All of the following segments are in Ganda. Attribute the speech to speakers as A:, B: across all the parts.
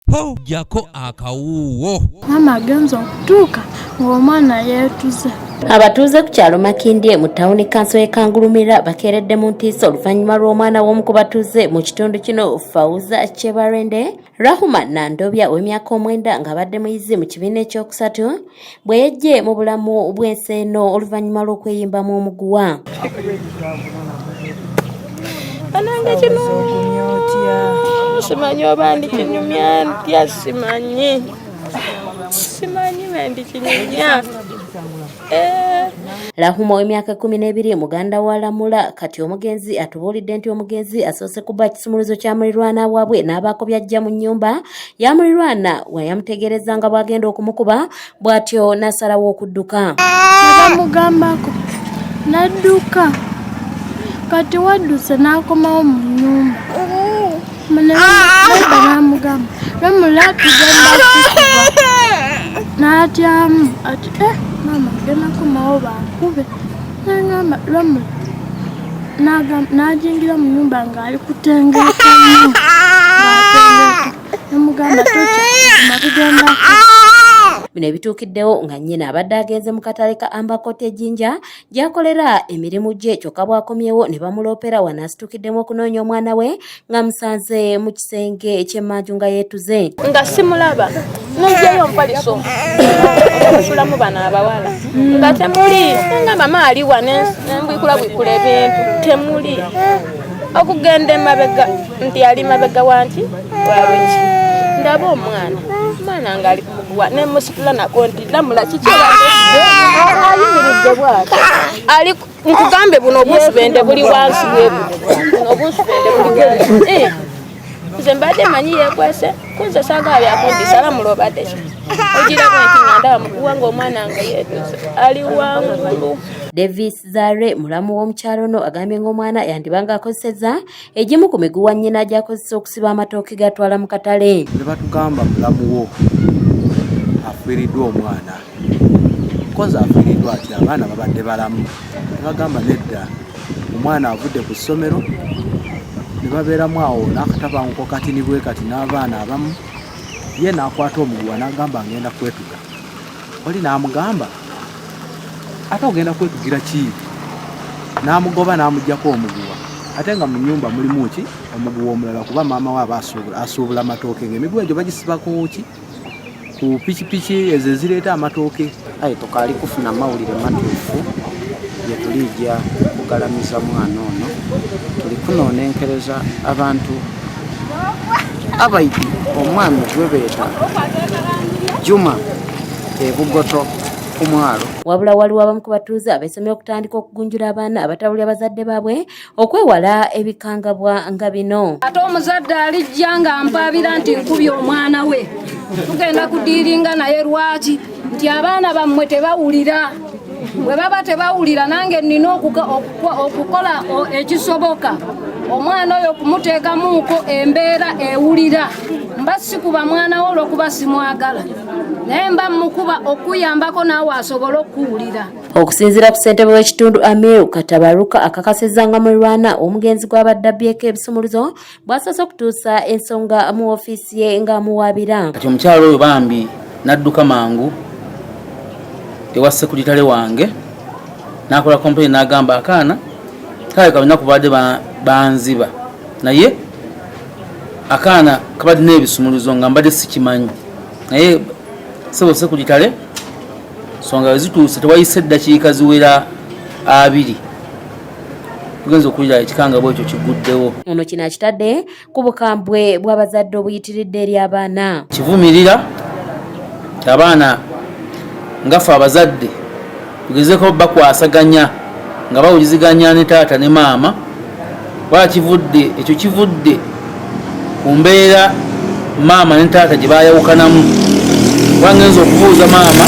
A: po jako akawuuwo maama agenza
B: okutuuka ng'omwana yeetuze abatuuze
C: ku kyalo makindye mu tawuni kanso y'e kangulumira bakeeredde mu ntiisa oluvannyuma lw'omwana w'omu ku batuuze mu kitundu kino fauza kyebarende rahuma nandobya ow'emyaka omwenda ng'abadde muyizi mu kibiina ekyokusatu bwe yejje mu bulamu bw'ensi eno oluvannyuma lw'okweyimbamu omuguwa
B: banange kino simanyi oba ndi kinyumya ntya simanyi simanyi bendi kinyumya eh.
C: Lahuma ow'emyaka kumi n'ebiri muganda wa Lamula kati omugenzi atubuulidde nti omugenzi asoose kuba kisumuluzo kya mulirwana waabwe n'abaako byajja mu nnyumba yamulirwana wa yamutegeereza nga bw'agenda okumukuba bw'atyo n'asalawo okudduka bamugambako
B: n'adduka kati wadduse n'akomawo mu nnyumba n'amugamba lwemulaki n'atyamu ati e eh, maama genakomawo bankube nangamba lwamu najingira mu nyumba ngaali kutengeka nemugamba tokyakumabigendako bino
C: ebituukiddewo nga nnyina abadde agenze mu katale ka ambakota ejinja gyakolera emirimu gye kyokka bwakomyewo ne bamuloopera wano asitukiddemu okunoonya omwana we nga musanze mu kisenge eky'emmanju nga yeetuze nga simulaba
B: nonjeyo mpaliso okusulamu bano abawala nga temuli nga mama aliwa nembwikulabwikula ebintu temuli okugenda emabega nti ali mabega wanki waweki ndaba omwana omwana ngaali kukuwa nemusitula nako nti lamula kiki ayimiridde bwati nkugambe buno obusubende buli wansi webuno obusubende buli wansi eh, nze mbadde manyi yekwese kunze saagala byakundisa ala mulobadeki ogirako nti nga ndaba mukuwa ngaomwana nga yetuze ali wangulu davis
C: zare mulamu w'omukyalo ono agambye ng'omwana yandibanga akozeseza egimu ku miguwa nnyina gyakozesa okusiba amatooke gatwala mu katale ne batugamba
D: mulamu wo afiiriddwa omwana kozi afiiriddwa ati abaana babadde balamu ne bagamba nedda omwana avudde ku ssomero ne babeeramu awo n'akatabanguko kati nibwe kati n'abaana abamu ye n'akwata omuguwa n'agamba ngenda kwetuga oli n'amugamba ate ogenda kwetugira ki n'amugoba n'amugyako omuguwa ate nga mu nyumba mulimu ki omuguwa omulala kuba maama we aba asuubula amatooke nga emiguwa egyo bagisiba ku ki ku pikipiki ezo ezireeta amatooke aye tukaali
E: kufuna mawulire matuufu yetuliija kugalamiza mwana ono tuli kunonenkereza abantu abaidi omwami gwebeeta juma ebugoto ku mwalo wabula waliwo abamu
C: ku batuuze abesomye okutandika okugunjula abaana abatabuli abazadde baabwe okwewala ebikangabwa nga bino ate omuzadde
F: alijja nga mpaabira nti nkubye omwana we tugenda kudiiringa naye lwaki nti abaana bammwe tebawulira bwe baba tebawulira nange nnina okukola ekisoboka omwana oyo okumuteekamuuko embeera ewulira mba sikuba mwana wo olwokuba simwagala naye mba mukuba okuyambako naawe asobole okuwulira okusinziira ku
C: ssentebe w'ekitundu amiru katabaruka akakasizza nga mulirwana omugenzi gw'abadde abbyeko ebisumuluzo bwasoose okutuusa ensonga mu ofiisi ye ng'amuwaabira kati omukyalo oyo bambi
E: n'adduka mangu ewa sekuritale wange n'akola kompeni n'agamba akaana kale kabina kubadde banziba naye akaana kabadde n'ebisumuluzo nga mbadde sikimanyi naye sebo sekuritale songa wezituuse tewayise eddakiika ziwera abiri tugenze okuwulira ekikangabwa ekyo kiguddewo ono kino akitadde
C: ku bukambwe bw'abazadde obuyitiridde eri abaana kivumirira
E: abaana ngafe abazadde tugezeko bakwasaganya nga bawuliziganya ne taata ne maama wakivudde ekyo kivudde ku mbeera maama ne taata gye baayawukanamu kuba ngenza okubuuza maama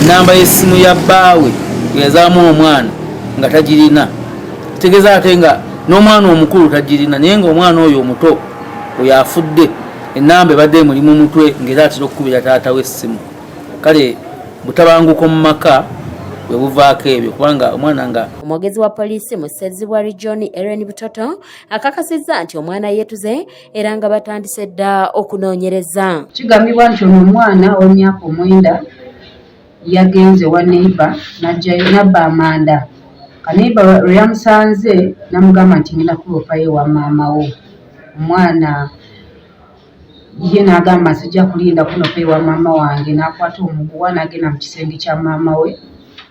E: nnamba y'essimu ya bbaawe eyazaamu omwana nga tagirina kitegeeza ate nga n'omwana omukulu tagirina naye ngaomwana oyo omuto oyo afudde ennamba ebadde emuli mu mutwe ngaera atera okukubira taata w'essimu kale butabanguko mu maka webuvaako ebyo kubanga omwana nga omwogezi wa poliisi
C: mu ssezibwa regioni eren butoto akakasizza nti omwana yeetuze era nga batandise dda okunoonyereza kigambibwa nti ono
G: omwana ow'emyaka omwenda yagenze wa neiba najjayo nabba amanda kaneiba lwe yamusanze namugamba nti ngenda kulopayo ewa maama wo omwana ye n'agamba sijja kulinda kunopa ewa maama wange n'akwata omuguwa n'agenda mu kisenge kya maama we